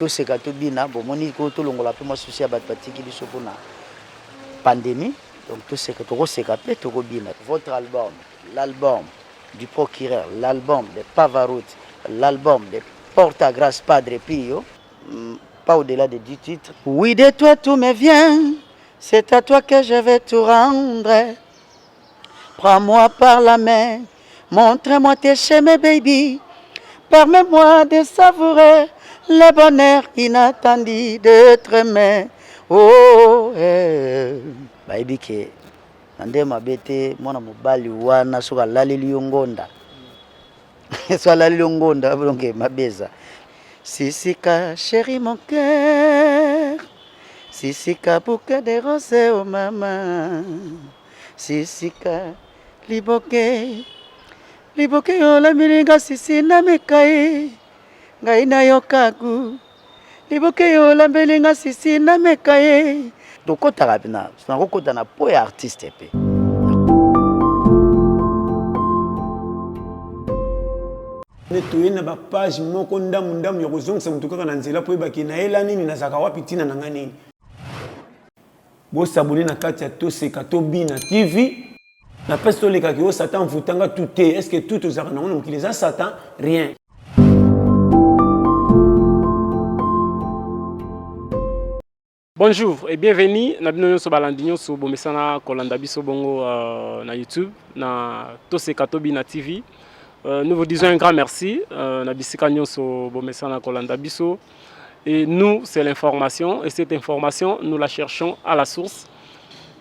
Toseka to bina bomoni ko tolongola pe mwa souci ya bato batiki biso po na pandemie donc toseka tokoseka pe tokobina votre album l'album du procureur l'album de Pavarotti l'album de Porta Grace Padre Pio mm, pas au-delà de 10 titres Oui de toi tout me vient c'est à toi que je vais tout rendre Prends moi par la main, montre moi tes chemins baby, permets moi de savourer le bonheur inattendu de te aimer. Oh, eh. Bayebi ke na nde mabe te mwana mobali wana soki alaleli yo ngonda soki alaleli yo ngonda donc mabe eza sisika chéri mon cœur sisika bouquet de rose o oh mama Sisika liboke liboke yolamilinga sisi na mikai ngai nayokaku liboke yolambelinga sisi na mekaye tokotaka mpena nakokota na po ya artiste mpe nde toye na bapage moko ndambu ndambu ya kozongisa motu kaka na nzela mpo yebaki nayela nini nazalaka wapi ntina na ngai nini Bo s'abonner na kati ya Toseka to Bina TV. Na peste oleka ki o Satan vutanga tout te. Est-ce que tout ozaka na mokili eza Satan? Rien. Bonjour et bienvenue na bino nyonso balandi nyonso bomesana kolanda biso bongo euh, na YouTube na Toseka Tobi na TV. Euh, nous vous disons un grand merci euh, na bisika nyonso bomesana kolanda biso Et nous, c'est l'information. Et cette information, nous la cherchons à la source.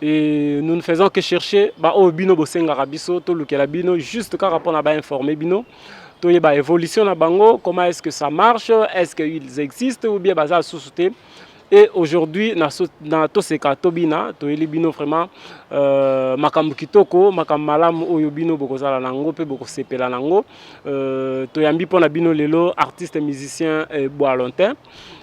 Et nous ne faisons que chercher ba oyo bino bosengaka biso tolukela bino juste kaka mpo na bainforme bino toyeba évolution na bango comment est-ce que ça marche est-ce qu'ils existent ou bien baza lisusu te et aujourd'hui na, so, na toseka tobina toyeli bino vraiment euh, makambo kitoko makambo malamu oyo bino bokozala na yango mpe bokosepela na yango Euh, toyambi mpo na bino lelo artiste musicien eh, boalontin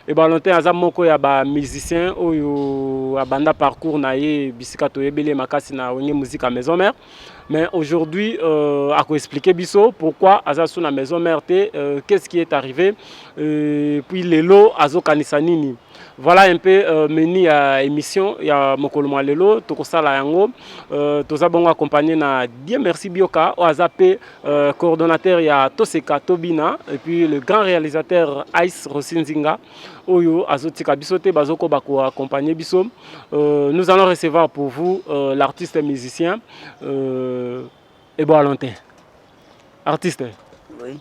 eh, boalontin aza moko ya bamusicien oyo abanda parcours na ye bisika toyebeli ye makasi na wenge musique ya maison mère mais aujourd'hui euh, akoexplike biso pourquoi aza su na maison mère te euh, qu'est ce qui est arrivé euh, puis lelo azokanisa nini Voilà un peu euh, menu ya émission ya mokolo mwa lelo tokosala yango euh, toza bongo accompagné na Dieu merci Bioka oyo aza mpe euh, coordonnateur ya Toseka Tobina et puis le grand réalisateur Ice Rosinzinga oyo azotika biso te bazokoba koaccompagne biso euh, nous allons recevoir pour vous euh, l'artiste musicien euh, Ebo Alonte artiste oui.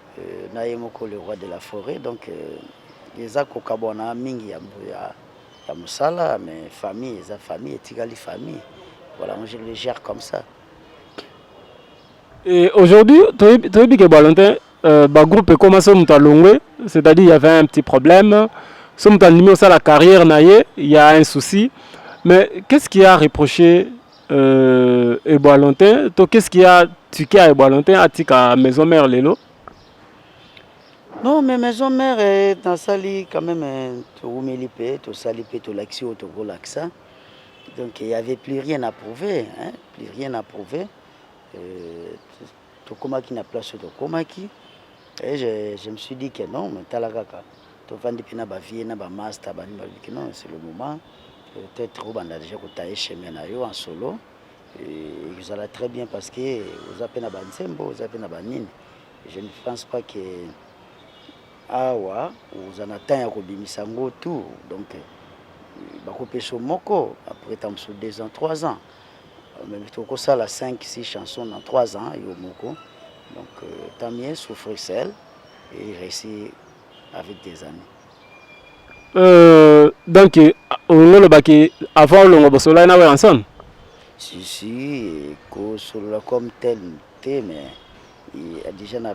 euh, na ye moko le roi de la forêt donc euh, eza kokabwana mingi ya, ya, ya mosala mais famille eza famille etikali famille voilà je le gère comme ça et aujourd'hui toyebi ke balentin euh, bagroupe ekoma so moto alongwe c'est-à-dire il y avait un petit problème so moto andimi osala carrière na ye il y a un souci mais qu'est ce qui a reproché Euh, Eboalontin, to qu'est-ce qu'il y a ticket à Eboalontin, atika maison mère lelo Non, mais maison mère eh, nasali quand même eh, towumeli mpe tosali mpe tolakisi oyo tokolakisa. Donc il y avait plus rien à prouver, hein, plus rien à prouver. Euh, tokomaki na place oyo tokomaki et je, je me suis dit que non mais tala kaka tovandi mpe na bavie na bamasta bani balobi que non c'est le moment peut-être obanda déjà kotaye chemin na yo en solo ezala très bien parce que oza mpe na banzembo oza mpe na banini je ne pense pas que awa oza na temps ya kobimisa ngo tout donc bakopesa moko après ta mosusu deux ans trois ans mais tokosala 5 6 chansons na 3 ans yo moko donc euh, tamie souffrir seul et réussi avec des amis euh, donc euh, ololobaki avant olongo bosololaki na weranson si si kosolola comme tel te mais déjà na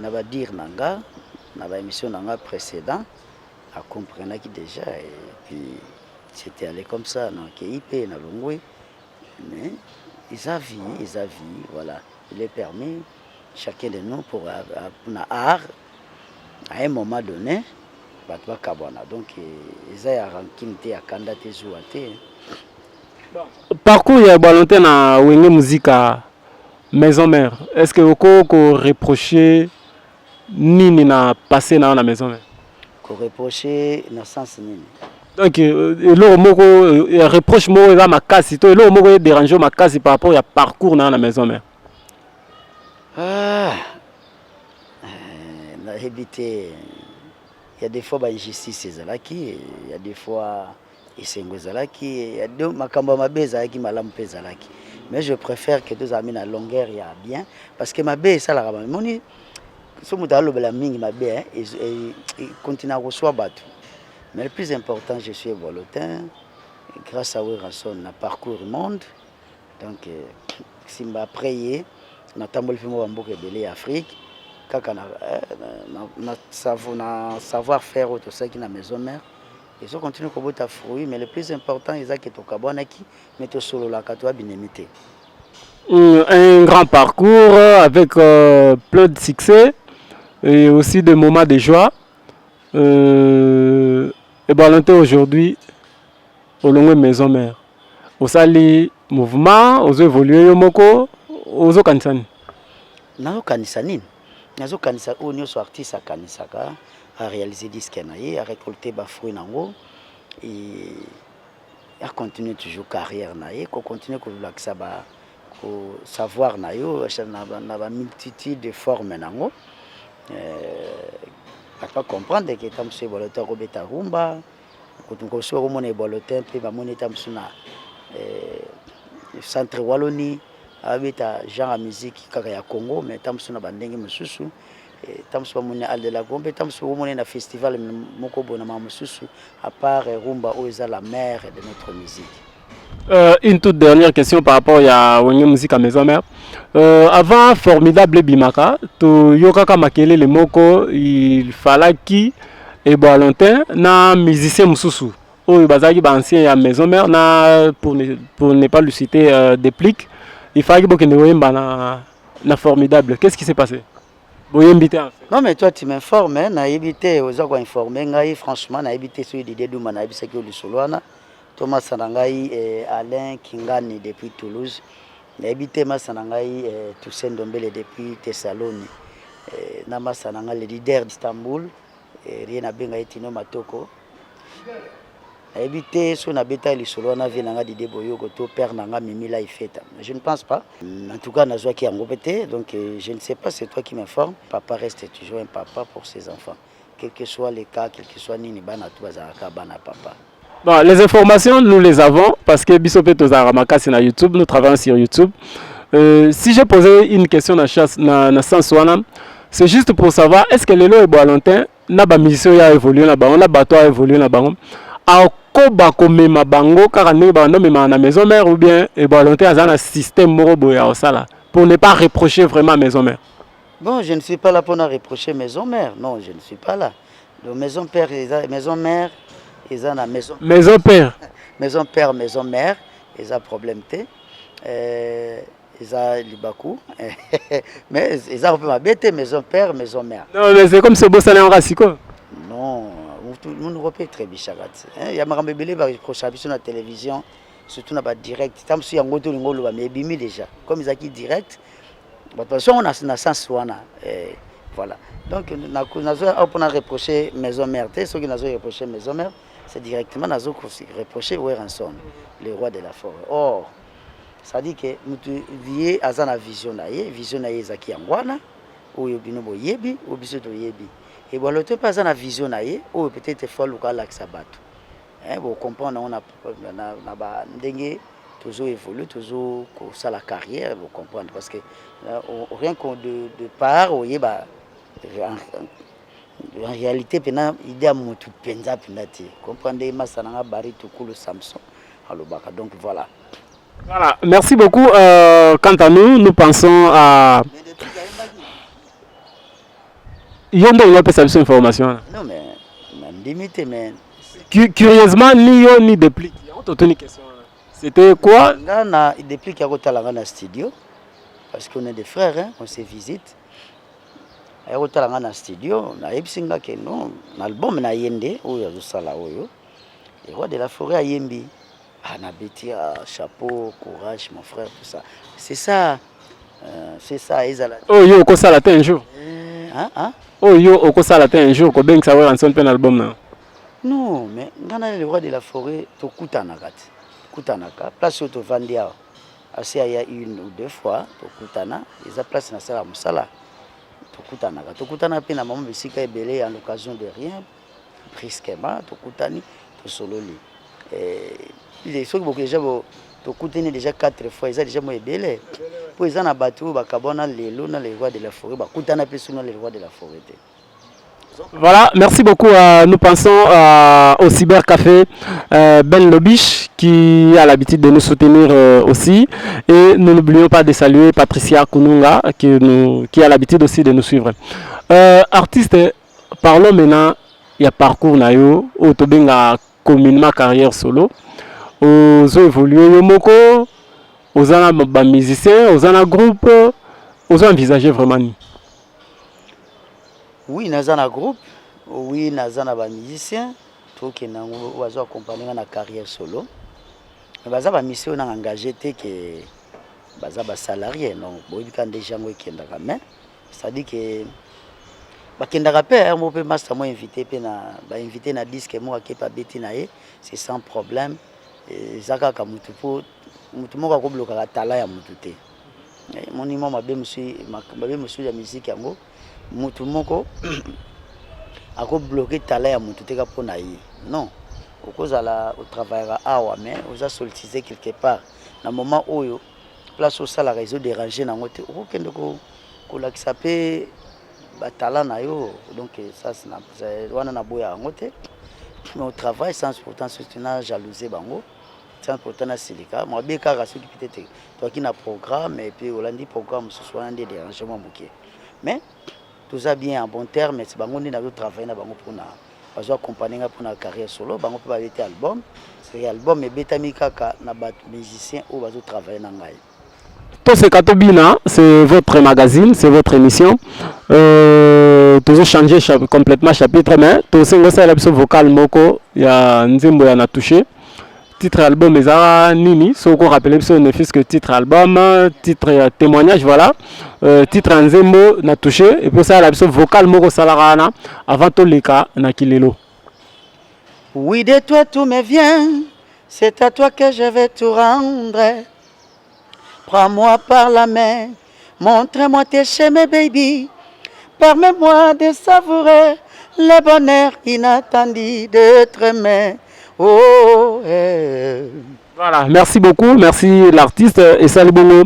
badire na nga na baémission na nga précédent a comprenaki deja et puis c'était allé comme ça na keyi pe na longwe mais eza vie eza vie voilà il est permis chacun de nous pour euh, euh, na art à un moment donné bato bakabwana donc euh, eza ya rankine te ya kanda te zuwa te parcours ya balonte na wenge muzika maison mère est ce que oko ko reprocher nini na passe na yo na maison mère koreproche na sens nini donc euh, eloko moko euh, reproche moko eza makasi to eloko moko ederange yo makasi par rapport ya parcours na yo na maison mère ah, euh, nayebi te ya des fois bainjustice ezalaki ya des fois esengo ezalaki ya do makambo ya mabe ezalaki malamu mpe ezalaki mais je préfère que tozalami na longueur ya bien parce que mabe esalaka bamoni so moto alobela mingi mabe eh, eh, eh, continue akoswa bato mais le plus important je suis volotin grâce à werrason na parcours monde donc simba après ye natamboli mpe mwa bamboka ebele ya afrique kaka na, na, na, na, na savoir faire oyo tosalaki na maison mère ezo continue kobota fruit mais le plus important eza ke tokabwanaki mais tosololaka toya binemi te hmm, un grand parcours avec euh, plein de succès et aussi des moments de joie euh, et balante aujourd'hui olongwe maison mère osali mouvement ozo évoluer yo moko ozokanisa nini nazokanisa nini nazo kanisa oyo nioso artiste akanisaka a réaliser disque na ye a récolter ba fruits nango et a continuer toujours carrière na ye ko continuer ko lakisa ba ko savoir na yo na ba multitude de formes nango euh, ata comprendre ke tamusu ye boloto akobeta rumba Kutu mosusu bakomona ebwalo te mpe bamoni ete mosusu na eh, centre waloni abeta genre ya miziki kaka ya congo mais ntango mosusu na bandenge mosusu eh, ntango mosusu bamoni al de la gombe ntango mosusu okomona na festival moko boye na mama mosusu apart rumba oyo eza la mare de notre musique Euh, une toute dernière question par rapport à Wenge Musica Maison Mère. Euh, avant Formidable Bimaka, to yokaka makele le moko, il fallait qui et bon longtemps na musicien mususu. Oyo bazaki ba ancien ya Maison Mère na pour ne, pour ne pas lui citer euh, déplic, il fallait que ne oyemba na na Formidable. Qu'est-ce qui s'est passé? boyembi te non mais toi tu m'informes hein, nayebi te oza koinforme ngai franchement nayebi te soki didie duma nayebisaki yo lisolo wana To masa na ngai eh, Alain Kingani depuis Toulouse. Nayebi te masa na ngai eh, Toussaint Ndombele depuis Thessaloni. Eh, na masa na ngai le leader d'Istanbul eh, rien nabenga ye Tino Matoko. nayebi te so nabeta lisolo wana vie na nga dide boyoko to père na nga mimi la ifeta je ne pense pas mm, en tout cas nazwaki yango mpe te donc euh, je ne sais pas c'est toi qui m'informe papa reste toujours un papa pour ses enfants quelque soit le cas quelque soit nini bana tu bazalaka bana papa Bon, les informations, nous les avons parce que Bisope Tozara Makasi na YouTube, nous travaillons sur YouTube. Euh, si j'ai posé une question na, chasse, na, na sens wana, c'est juste pour savoir est-ce que lelo ebo longtemps na ba musicien ya évolué na bango, na bato ya évolué na bango. akoba komema bango kaka ndenge banda omemaka na maison mère ou bien ebo longtemps aza na système moko boye ya kosala pour ne pas reprocher vraiment maison mère Bon, je ne suis pas là pour na reprocher maison mère. Non, je ne suis pas là. Le maison père, eza, maison mère, eza na maison. Maison père. maison père, maison mère, eza problème te. Euh, eza libaku mais eza ko ma bête maison père maison mère non mais c'est comme ce bossa na nga siko non nous ko pe très bichaka hein ya makambo ebele ba reproche biso na télévision surtout na ba direct tam su yango to lingo loba mais ebimi déjà comme ezaki direct bato bazongo na, na sens wana eh, voilà donc nazo awa mpona reproche maison mère te soki nazo reproche maison mère c'est directement nazo reproche weranson le roi de la forêt or c'est-à-dire que moto ye aza na vision na ye vision na ye ezalaki yango wana oyo bino boyebi oyo biso toyebi ebwalo to mpe aza na vision na ye oyo peut-être fo aluka alakisa bato eh, bo comprendre on a na, na ba ndenge tozo évoluer tozo kosala carrière bo comprendre parce que euh, rien que de, de part oyeba en, en réalité mpena idée ya motu mpenza mpenza te comprendre nde masa nanga bari tukulu samson alobaka donc voilà voilà merci beaucoup euh, quant à nous nous pensons à Yo nde olingi opesa biso information wana. Non mais nandimi te mais curieusement ni yo ni Deplick yango totuni question wana. C'était quoi? Nga na Deplick akotala nga na studio parce qu'on est des frères hein, on se visite. Ayakotala nga na studio nayebisi nga ke non na album na ye nde oyo azosala oyo. Le roi de la forêt ayembi. Ah, na beti ya ah, chapeau courage mon frère tout ça c'est ça euh, c'est ça ezala oyo oh, yo okosala te un jour euh, hein, hein? oyo oh, yo okosala te un jour kobengisa weranson mpe na album na non mais ngai na le roi de la forêt tokutanaka te tokutanaka place oyo tovandi awa asi aya une ou deux fois tokutana eza place nasala mosala tokutanaka tokutanaka mpe na mama bisika ebele en occasion de rien brusquement tokutani tosololi eh, soki boke deja tokutani deja 4 fois eza deja mo ebele mpo eza na bato oyo bakabwana lelo na le roi de la forêt bakutana mpe soki na le roi de la forêt te Voilà, merci beaucoup. Euh, nous pensons euh, au cybercafé euh, Ben Lobiche qui a l'habitude de nous soutenir euh, aussi. Et nous n'oublions pas de saluer Patricia Kununga qui, nous, qui a l'habitude aussi de nous suivre. Euh, artiste Parlons maintenant ya parcours na yo oyo tobenga communement carrière solo. Ozo evoluer yo moko, oza na ba musiciens, oza na groupe, ozo envisager vraiment nini? Oui, naza na groupe, oui naza na ba musiciens, tokende yango bazo accompagner nga na carrière solo. Mais baza ba musiciens oyo na engage te que baza ba salariés, donc boyebi ka nde yango ekendaka mais C'est-à-dire que bakendaka mpe yango hein, mpe masta mo invité mpe na bainvité na disque moko akepe abeti na ye c'est sans problème eza kaka motu mpo motu moko akoblokaka tala ya motu te eh, moni mwa mabe mosusu ya miziki yango motu moko akobloke tala ya motu te ka mpo na ye non okozala otravaillaka awa mais oza soltise quelque part na moment oyo place osalaka ezo déranger nango te okokende ko kolakisa pe batala na yo donc ça wana naboya yango te mais au travail sans pourtant surtout na jalouse bango sans pourtant na silika mabe kaka soki pite te toaki na programme et puis olandi programme mosusu wana nde dérangement moke mais Toza bien en bon termes, bango nde nazo travailler na bango pona bazo accompagner nga pona carrière solo, bango pe babeti album. C'est album ebetami kaka na ba musiciens oyo bazo travailler na ngai. Toseka tobina, c'est votre magazine, c'est votre émission. Euh, tozo changer cha complètement chapitre mais tosengo sala biso vocal moko ya nzembo ya na toucher. Titre album eza nini soki ko rappeler biso ne fils que titre album titre ya témoignage voilà euh, titre ya nzembo na touche epuis osalala biso vocal moko osalaka wana avant toleka na kilelo Oui, de toi tout me vient. C'est à toi que je vais tout rendre. Prends moi par la main, montre moi tes chemins baby, permets moi de savourer le bonheur inattendu de tremais. Oh, eh. Voilà, merci beaucoup, merci l'artiste et salut bongo.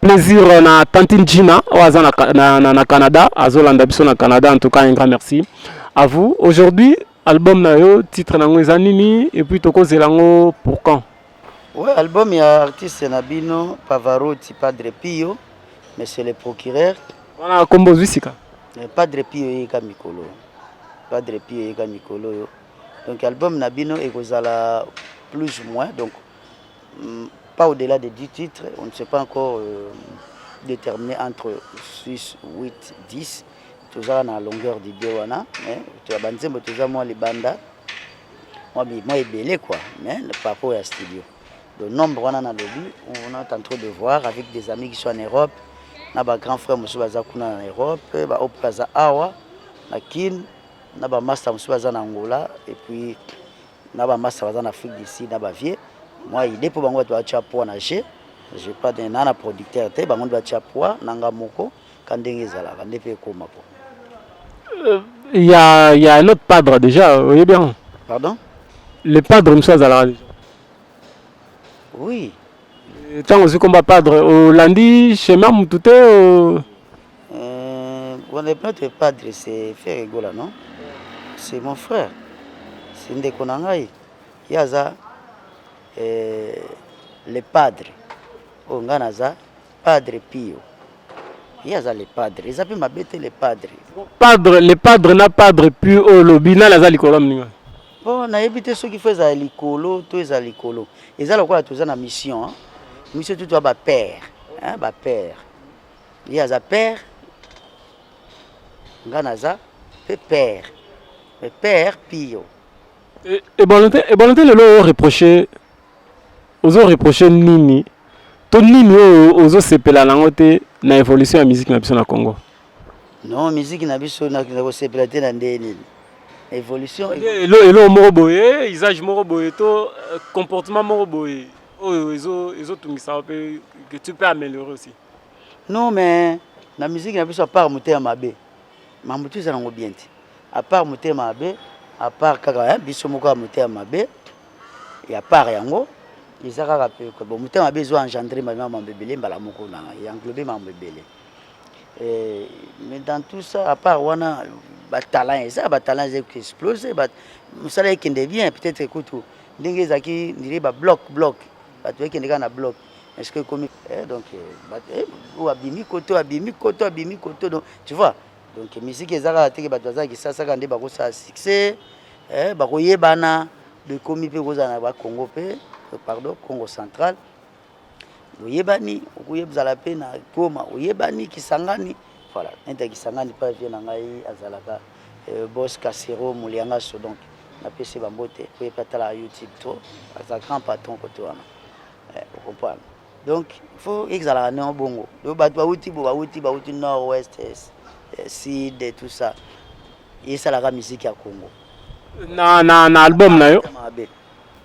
Plaisir euh, na tantine Gina, oaza na, na, na, na Canada, azolanda biso na Canada, en tout cas un grand merci à vous. Aujourd'hui, album na yo, titre na ngo eza nini et puis tokozela ngo pour quand Ouais, album ya artiste na bino Pavarotti Padre Pio, Monsieur le Procureur. Wana kombo ozwi sika. Eh, Padre Pio eyeka mikolo. Padre Pio eyeka mikolo yo. Donc album na bino ekozala plus ou moins donc mm, pas au-delà de 10 titres, on ne sait pas encore euh, déterminer entre 6, 8, 10. Tozala na longueur d'idée wana, mais to ya banzembo toza mwa libanda. mwa bi- mwa ebele quoi mais le parcours ya studio le nombre wana nalobi on est en train de voir avec des amis qui sont en europe na ba grand frère mosusu baza kuna na europe ba oyo mpe baza awa na kin na ba master mosusu baza na angola et puis na ba master baza na afrique du sud na ba vieux mwa idée mpo bango bato batya poids na jeu je pas de- naa na producteur te bango nde batya poids na nga moko ka ndenge ezalaka nde mpe ekoma po euh, ya ya un autre padre déjà oye bien pardon le padre mosusu azalaka déjà oui ntango ozwi komba padre olandi chemin motu te notre padre c'est frère egola non c'est mon frère c'est ndeko na ngai ye aza euh, le padre oyo ngai naza Padre Pio. Ye aza le padre. Eza pe mabe te le padre. Padre le padre na padre Pio oyo lobi nani aza likolo mninga. Bon nayebi te soki fo eza likolo to eza likolo. Eza lokola toza na mission. Hein? Mission tout ba père. Hein ba père. Ye aza père. Nga naza pe père. Mais père Pio. Et, et bon, et bon, le reprocher ozo reprocher nini to nini oyo ozo sepela nango te na evolution ya musique na biso na Congo non musique na biso na ko sepela te na ndenge nini evolution elo elo moko boye usage moko boye to euh, comportement moko boye oyo ezo ezo tungisa pe que tu peux améliorer aussi non mais na musique na biso à part motema mabe mambo tu ezala ngo bien te à part motema mabe à part kaka hein, biso moko ya motema mabe ya part yango eza kaka pe bon motema mabe ezo engendre mabima mambo ebele mbala moko na ya englobe mambo ebele eh, mais dans tout ça à part wana batalent eza batalent eza explose mosala ekende bien peut-être kutu ndenge ezalaki ndire ba bloc bloc bato ekende kaka na bloc est ce que ekomi eh, donc eh, eh, oyo abimi koto abimi koto abimi koto donc tu vois donc miziki eza kaka teke bato baza kisasa kaka nde bakosala succès eh, bakoyebana ekomi mpe kozala na bakongo mpe eh, pardon congo central oyebani okoyebzala mpe na goma oyebani kisangani voilà nete kisangani mpe avie na ngai azalaka eh, bos casero moliangaso donc napesi bambote mpo ye mpe atalaka youtube to aza grand patron kote wana eh, okomprendre donc faut ezalaka nao bongo donc bato bauti bo bauti bauti nord ouest sud et tout ça esalaka miziki ya congo na, na, na album na yo mabe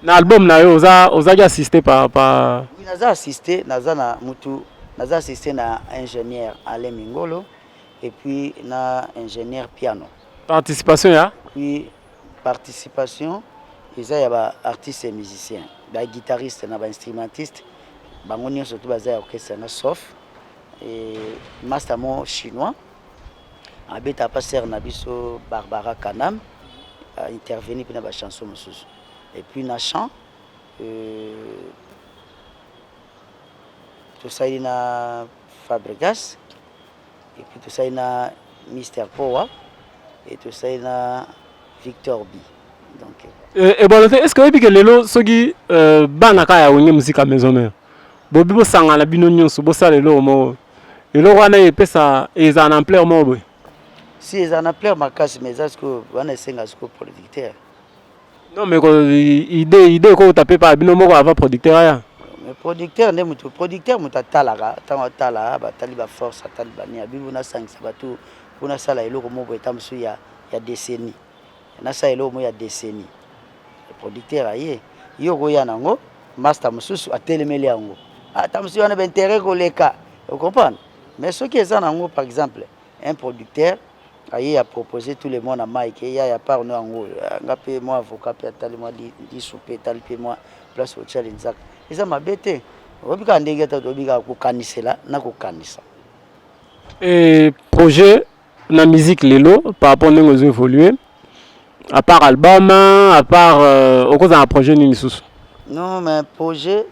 na album na yo oza ozaki assiste pa, pa... Oui, naza assiste naza na mutu naza assiste na ingénieur alain mingolo et puis na ingénieur piano participation ya oui Participation eza ya ba artistes et musiciens, ba guitaristes na ba instrumentistes bango nionso tout baza ya orchestre yango sauf et master mo chinois abeta pa sœur na biso Barbara Kanam a intervenir pina ba chansons mosusu et puis na chant euh, tosali na Fabregas Et puis tosali na Mister Powa et tosali na Victor B. Donc euh, eh, ebolo te est ce que oyebi ke lelo soki euh, bana kaka ya wenge mosika maison mare bobi bosangana bino nyonso bosala eloko moko eloko wana epesa ezala na ampleur moko boye si ezala na ampleur makasi mais eza sikoyo wana esenga sikoyo producteur Non mais idée idée eko tape pa bino moko avant producteur aya. Mais producteur nde mutu producteur mutu atalaka tango atala batali ba force atali bani ya bibu nasangisa batu mpo nasala eloko moko boye ta mosusu ya, ya décennie nasala eloko moko ya décennie producteur aye ye okoya nango masta mosusu atelemeli yango ata mosusu wana bainteret koleka ocomprendre mais soki eza nango par exemple un producteur aye a proposer tout le monde na Mike ya ya part no yango nga pe moi avocat pe atali moi di soupe etali pe moi place otia linzaka eza mabe te oyebi kaka ndenge ata toyebi kaka kokanisela na kokanisa e projet na musique lelo par rapport ndenge ozo évoluer à part album à part euh, okozala na projet nini lisusu non mais projet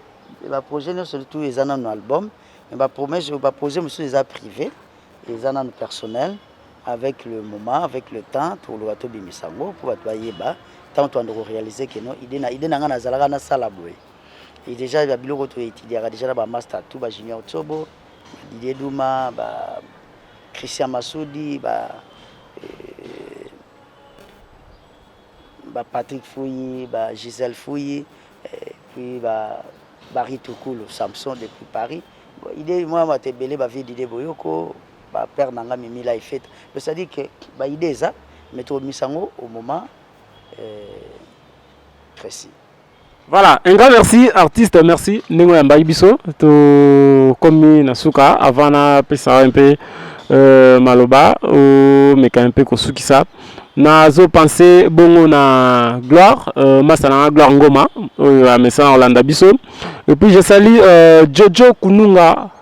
ba projet nyonso tout eza nano album mais ba promesse ba projet mosusu eza privé mm. Eza nanu personnel avec le moment avec le temps tokoloba tobimisa yango mpo bato bayeba ntango toanda korealize ke no ide na ide na ngai nazalaka nasala boye e deja ya biloko toetidiaka deja na bamaster tout ba junior tsobo badidie duma ba christian masudi ba euh, ba Patrick Fuyi ba Gisèle Fuyi eh, puis ba Barry Tukulu Samson depuis Paris bon, idée moi mate ebele ba vie d'idée boyoko ba père nanga mimi la ifeta mais ça dit que ba idée eza mais to misango au moment euh, précis Voilà, un grand merci artiste, merci ndenge ya mbayi biso to komi na suka avant na pesa un peu euh, maloba o meka un peu kosukisa nazo pense bongo na gloire euh, masa na gloire ngoma oyo amesana kolanda biso et puis je sali euh, jojo kununga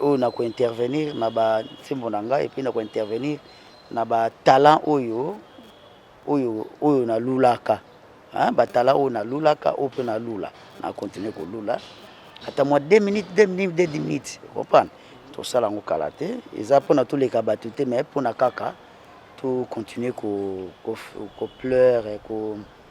oyo na kointervenir na bansembo na ngai epuis na kointervenir na batalent oyo oyo oyo nalulaka batala oyo nalulaka oyo mpe nalula na continue kolula ata mwa 2 minutes 2 minutes 2 minutes comprendre tosala yango kala te eza mpona toleka bato te mais mpona kaka to continue ko, ko, ko pleure ko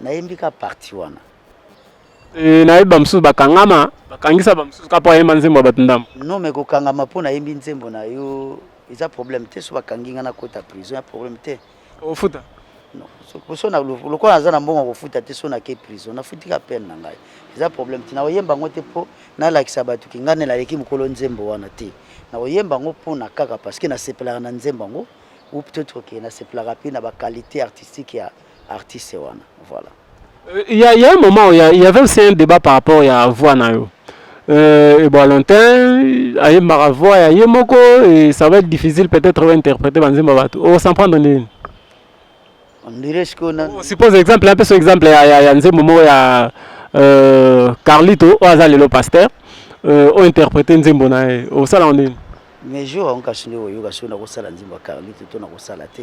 nayembi ka parti wana e, nayebi bamosusu bakangama bakangisa bamosusu ka mpo ayemba nzembo ya bato ndambo no me kokangama mpo nayembi nzembo na yo eza problème te so bakangi nga nakota prison ya problème te ofuta lokola naza na mbongo kofuta te so nake prison nafuti ka pene na ngai eza problème te nakoyemba yango te mpo nalakisa bato ke ngai nde naleki mokolo nzembo wana te nakoyemba yango mpo na kaka parce que nasepelaka na nzembo yango ou peut-être ke nasepelaka mpe na baqualité artistique ya artiste wana voilà il y a, il y a un moment où il y, a, il y avait aussi un débat par rapport ya voix na yo euh, Valentin ayembaka voix ya ye moko et ça va être difficile peut-être ointerprete banzembo bato osan prendre nini suppose exemple un peu so exemple ya, ya, ya nzembo moko ya euh, carlito oyo aza lelo pasteur euh, ointerprete nzembo na ye osalaka nini mais jour yango kasi nde oyoka soki nakosala nzembo ya carlito to nakosala te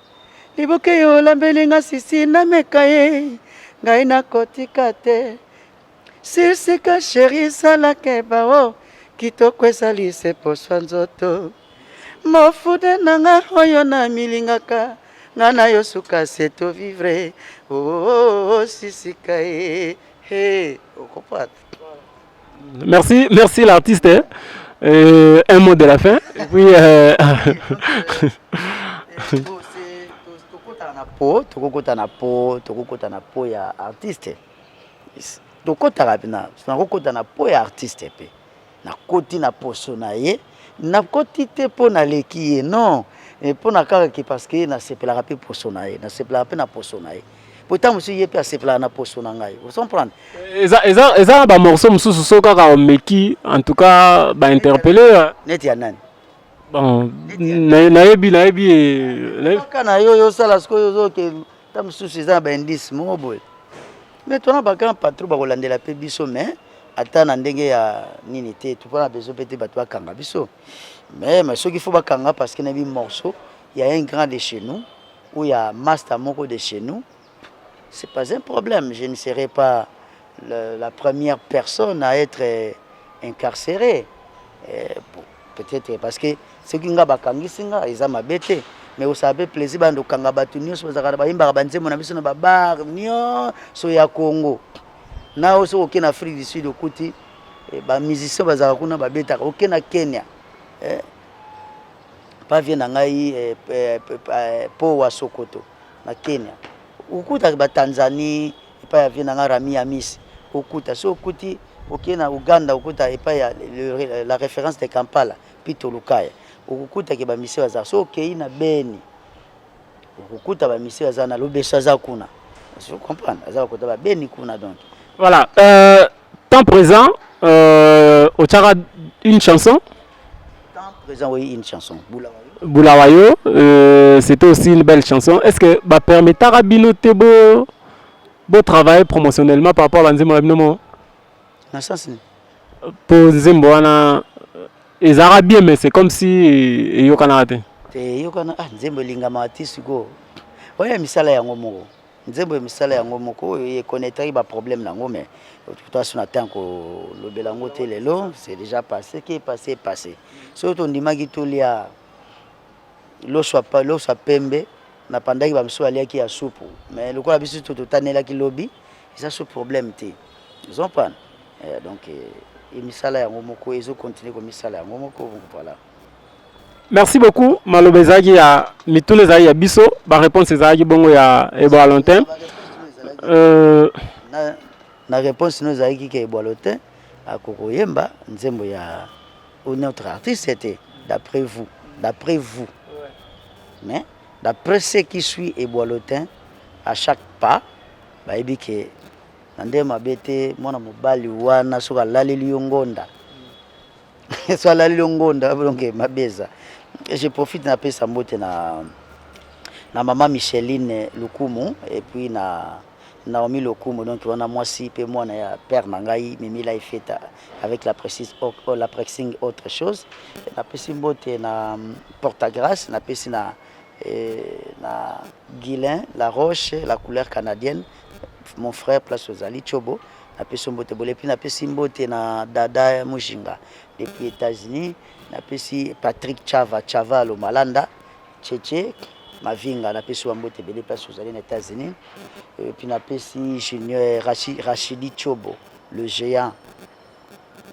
liboke yo olambeli nga sisi nameka ye ngai nakotika te sirsika sheri salake bao kitoko ezali se poswa nzoto mofude na nga oyo na milingaka nga na yo suka se to vivre oo oh, oh, oh, sisika ye he okopata Merci, merci l'artiste. Hein. Euh, un mot de la fin. Et puis. Euh... po tokokota na po tokokota na po ya artiste tokotaka mpena nakokota na po ya artiste mpe nakoti na poso na ye nakoti te mpo naleki ye non mpo na kaka ke parce que nasepelaka mpe poso na ye nasepelaka mpe na poso na ye po ntango mosusu ye mpe asepelaka na poso na ngai osomprendre eza, eza, eza na bamorceau mosusu so kaka omeki en tout cas bainterpele euh. neti ya nani bon nayebi nayebi kaka na yo yosala sikoyo ozoke ntango mosusu eza na baindice moko boye mais tona bagrand patron bakolandela mpe biso mais ata na ndenge ya nini te topona na besoin mpe te bato bakanga biso mais mais soki fo bakanga parce que nayebi morceau ya un grand de chez nous ou ya masta moko de chez nous c'est pas un problème je ne serai pas le, la première personne à être incarcéré euh, peut-être parce que soki nga bakangisi nga eza mabe te mais osala mpe plaisir banda okanga bato nyonso bazalaka bayembaka banzembo na biso na babar nyonso ya congo na oyo soki oke na afrique du sud okuti eh, bamusicien bazalaka kuna babetaka oke na kenya eh, pa vie na ngai eh, eh, eh, po wa sokoto na kenya okutaka batanzanie epai ya vie na ngai rami ya misi okuta so okuti okei na uganda okuta epai ya la référence de kampala pito lukaya okokutake bamisi bazala so okei na beni okukuta bamisi baza na lobeso aza kuna je comprendre aza bakota babeni kuna donc voilà euh, temps présent euh, otiaka une chanson Bulawayo, euh, c'était aussi une belle chanson. Est-ce que ba permettra bino te beau beau travailler promotionnellement par rapport à Nzembo na bino mo? Na sens ni. Po Nzembo wana euh, ezara bien mais c'est comme si euh, eyokana te. Te eyokana ah Nzembo elingama te siko. Oya misala yango moko. nzembo ya misala yango moko oyo ye connaîtraki ba problème na yango mais toaso na temps kolobela yango te lelo c'est déjà passé qui est passé est passé soki tondimaki tolia loso ya pembe na pandaki bamosusu baliaki ya supu mais lokola biso to totanelaki lobi eza so problème te ozompana eh, donc eh, emisala yango moko ezokontinue komisala yango moko voilà Merci beaucoup. Maloba ezalaki ya mituna ezalaki ya biso, ba réponse ezalaki bongo ya Ebwalentin. Euh... Na, na réponse no ezalaki ke Ebwalentin akokoyemba nzembo ya ou notre artiste était d'après vous, d'après vous. Mais d'après ceux qui suit Ebwalentin à chaque pas bayebi ke na nde mabe te mwana mobali wana soki alaleli yo ngonda so alali longonda bolonge mabe eza je profite napesa mbote na na mama micheline lukumu epuis na naomi lokumu donc wana mwasi mpe mwana ya père na ngai mimila efeta avec la précise oh, oh, la pressing autre chose napesi mbote na portagrace napesi na et na Guilain la roche la couleur canadienne mon frère place ozali Chobo na pesi mbote bole puis na pesi mbote na dada Mujinga depuis États-Unis na pesi Patrick Chava Chava lo Malanda Cheche Mavinga na pesi wa mbote bele place ozali na États-Unis et puis na pesi Junior Rachidi Chobo le géant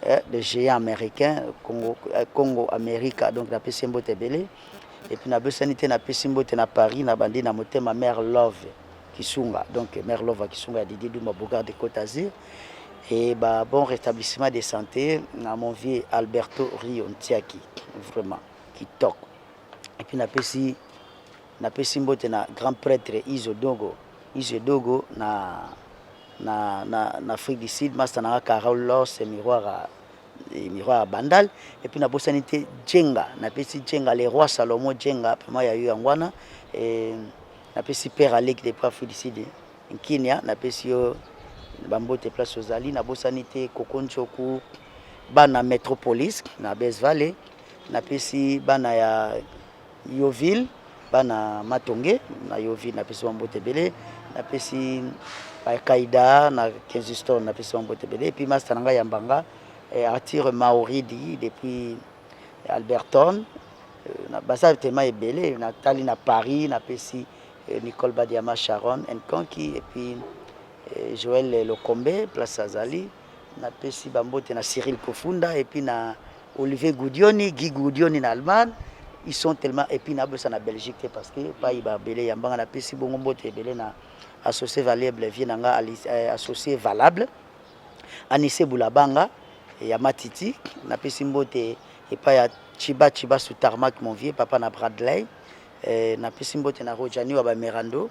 eh, le géant américain Congo, eh, Congo America donc na pesi mbote ebele et puis na bosani te na pesi mbote na Paris na bandi na motema mère Love Kisunga donc mère Love Kisunga ya Didier Duma Bogart de Côte d'Azur et bah, bon rétablissement de santé na mon vieux Alberto Rio Ntiaki vraiment kitoko et puis na pesi Na pesi mbote na grand pretre Izo Dogo, Izo Dogo na na na na Afrique du Sud, masta na nga Carol Lors et Miroir à et Miroir à Bandal et puis na bosani te Djenga, na pesi Djenga le roi Salomon Djenga vraiment ya yo yango wana et na pesi père Alec depuis Afrique du Sud Nkinia, na pesi yo ba mbote place ozali, na bosani te Koko Njoku bana Metropolis na Best Valley, na pesi bana ya Yeoville bana matonge na Yeoville napesi bango mbote ebele napesi kaida na kensiston napesi bango mbote ebele epuis masta na ngai ya mbanga eh, arthur mauridi depuis alberton euh, baza tema ebele natali na paris napesi euh, nicole badiama sharon enconki epuis euh, joel lokombe place azali Napesi bambote na Cyril Kofunda et puis na Olivier Gudioni, Guy Gudioni na Allemagne. Ils sont tellement et puis na bosa na Belgique te parce que pas iba belé ya mbanga napesi bongo mbote belé na associé valable vie na nga euh, associé valable. Anissé Boulabanga ya Matiti napesi mbote epai ya Chiba Chiba sous tarmac mon vieux papa na Bradley. Euh, napesi mbote na Rojani wa ba Merando.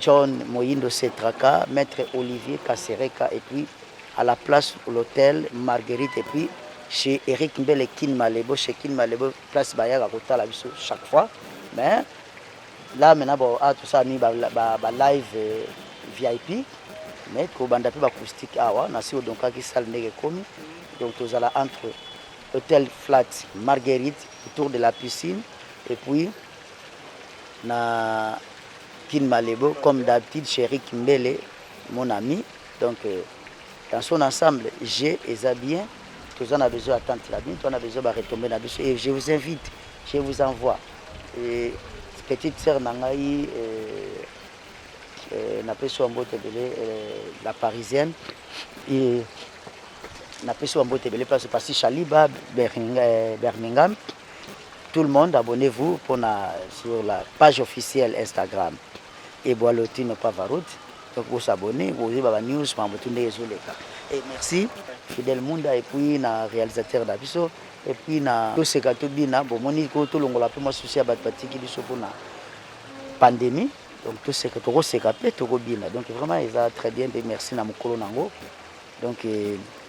John Moyindo Setraka, Maitre Olivier Kasereka et puis à la place l'hôtel Marguerite et puis chez Eric Mbele Kin Malebo chez Kin Malebo place bayaka kotala biso chaque fois mais là maintenant bon ah tout ça mis ba, ba, ba live euh, VIP mais kobanda pe ba acoustique awa na si odonkaki salle ndenge komi donc tozala entre hôtel flat Marguerite autour de la piscine et puis na kin malebo comme d'habitude cherik mbele mon ami donc euh, dans son ensemble je eza bien toza na besoin attente na bino toza na besoin baretombe na biso et je vous invite je vous envoie et petite sœur na ngai euh, euh, napesi wa mbote ebele euh, la parisienne et napesi wa mbote ebele place pasi shaliba euh, birmingham Tout le monde abonnez vous pona sur la page officielle Instagram et Boalotino Pavarut donc bo s'abonner bo yeba ba news mambo tout ndenge ezo leka et merci Fidel Munda et puis na réalisateur na biso et puis na toseka tobina bomoni ko tolongola mpe mwa susi ya bato batiki biso mpona pandémie donc toseka tokoseka mpe tokobina donc vraiment eza très bien mpe merci na mokolo nango donc euh,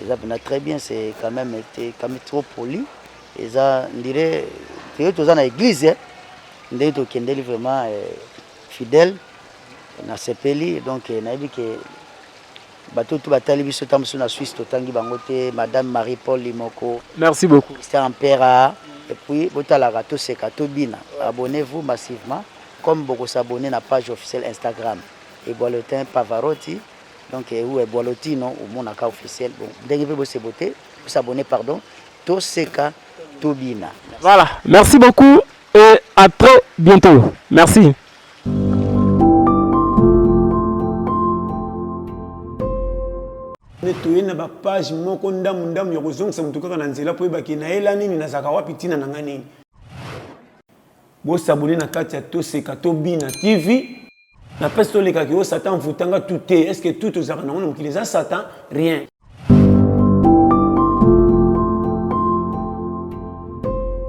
Eza pena très bien c'est quand même te quand même trop poli. Eza ndire te toza na église eh. ndenge tokendeli vraiment eh, fidèle na sepeli donc eh, nayebi ke bato tu batali biso ntango mosusu na suisse totangi bango te madame marie paul limoko merci beaucoup christian mpera et puis botalaka toseka tobina abonnez vous massivement comme bokosabonne na page officielle instagram eboalotin pavaroti Donc ehu eh, Boalotino omonaka officiel bon ndenge pe bose bote bose abonner pardon to seka to bina. Voilà, merci beaucoup et à très bientôt. Merci. nde toye na bapage moko ndambu ndambu ya kozongisa motu kaka na nzela mpo oyebaki nayela nini nazalaka wapi ntina na ngai nini bosabone na kati ya toseka tobina tv Na peste tolekaki yo satan envoutanga tout te est ce que tout ozalaka nango na mokili eza satan rien